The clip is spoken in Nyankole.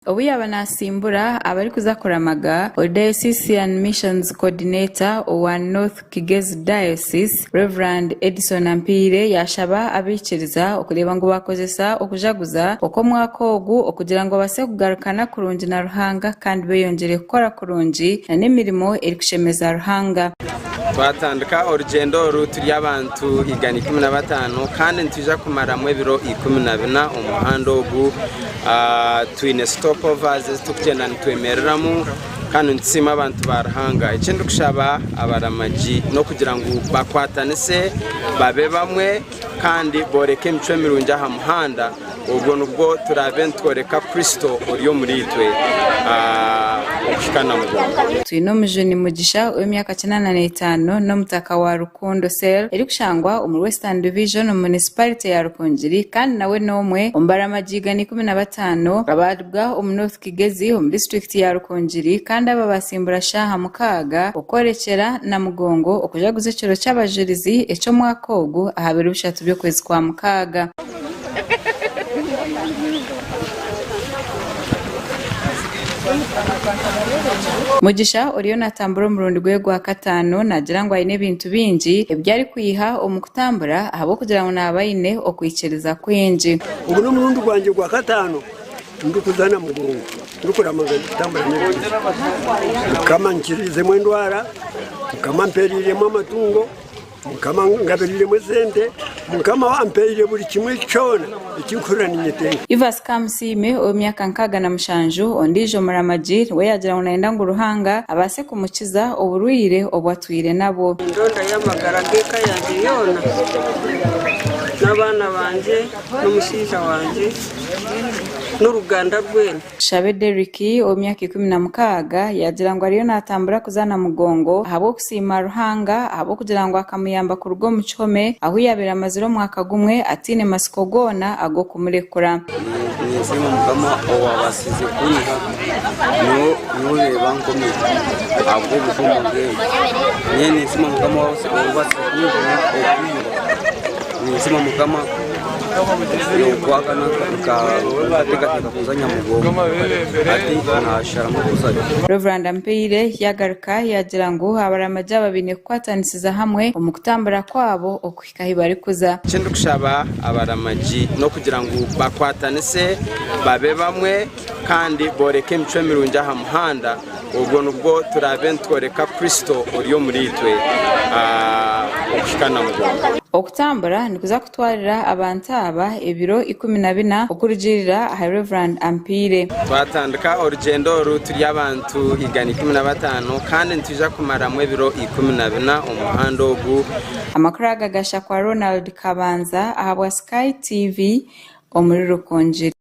Obu yaaba naasimbura abarikuza kuramaga, ori Diocesan Missions Coordinator owa North Kigezi Diocese, Rev. Edison Ampiire yaashaba abaikiriza okureeba ngu baakozesa okujaguza okw'omwaka ogu okugira ngu babaase kugarukana kurungi na Ruhanga kandi beeyongyere kukora kurungi nana emirimo erikushemeza Ruhanga. Twatandika orugyendo oru turi abantu igana ikumi na bataano kandi nitwija kumaramu ebiro ikumi na bina omu muhanda ogu. twine stopovers ezi turikugyenda nitwemereramu kandi nitusiima abantu ba Ruhanga eki ndikushaba abaramagi n'okugira ngu bakwatanise babe bamwe kandi booreke emicwe mirungi aha muhanda obwo nibwo turaabe nitworeka Kristo ori omuri itwe okuhika na mugongo. Twine omujuuni Mugisha ow'emyaka kinaana na etaano n'omutaka wa Rukungiri. Kondo Cell, erikushangwa omuri Western Division omu munisiparite ya Rukungiri kandi nawe n'omwe omu baramagi igana ikumi na bataano abaaribwa omu North Kigezi omu disiturikiti ya Rukungiri kandi aba baatsimbura shaaha mukaaga okworekyera Namugongo okujaguza ekiro ky'Abajurizi eky'omwaka ogu aha biro bishatu by'okwezi kwa mukaaga. Mugisha oriyo naatambura omurundi gwe gwa kataano naagira ngu aine ebintu bingi ebi arikwiha omu kutambura ahabw'okugira ngu naaba aine okwikiriza kwingi. Ogu n'omurundi gwangye gwa kataano ndikuzaana mugongo ndikuraama ngu ndikutambura n'ebintu bikye. Mukama ankiriizeemu endwara, Mukama ampeereiremu amatungo. Mukama angabiriremu esente, Mukama ampaire buri kimwe kyona eki ndikuhurira ninyetenga. Ivas Kamusiime, ow'emyaka nkaaga na mushanju, ondiijo muramagi, we yaagira ngu naayenda ngu Ruhanga abaase kumukiza oburwaire obu atwire nabwo. Nindoda y'amagara g'eka yangye yoona, n'abaana bangye, n'omushaija wangye, n'oruganda rwena. Tushabe Derrick, ow'emyaka ikumi na mukaaga, yaagira ngu ariyo naatambura kuza na mugongo ahabw'okusiima Ruhanga ahabw'okugira ngu akamuyamba kuruga omu kihome ahu yaabaire amazire omwaka gumwe ataine matsiko goona ag'okumurekura. Ninsiima Mukama owaabaasize kunyiha n'oreeba nkomire ahabw'obutumwa bweye. Nyowe ninsiima Mukama owaabaasize kunjuna okwirwe. Ninsiima Mukama. Ogwakana nkateekateeka kuza Nyamugongo hati naasharamu kuzayo. Rev Mpiire yaagaruka yaagira ngu abaraamagye aba baine kukwatanisiza hamwe omu kutambura kwabo okuhika ahu barikuza. Eki ndikushaba abaraamagye n'okugira ngu bakwatanise babe bamwe kandi booreke emicwe mirungi aha muhanda obwo nibwo turaabe nitworeka Kristo ori omuriitwe okuhika Namugongo. Okutambura nikuza. Twalira abantu aba ebiro ikumi na bina okurugiirira aha Rev. Ampiire. Twatandika orugyendo oru turi abantu igana ikumi na bataano kandi nitwija kumaramu ebiro ikumi na bina omu muhanda ogu. Amakuru aga gashakwa Ronald Kabanza ahabwa Sky TV omuri Rukungiri.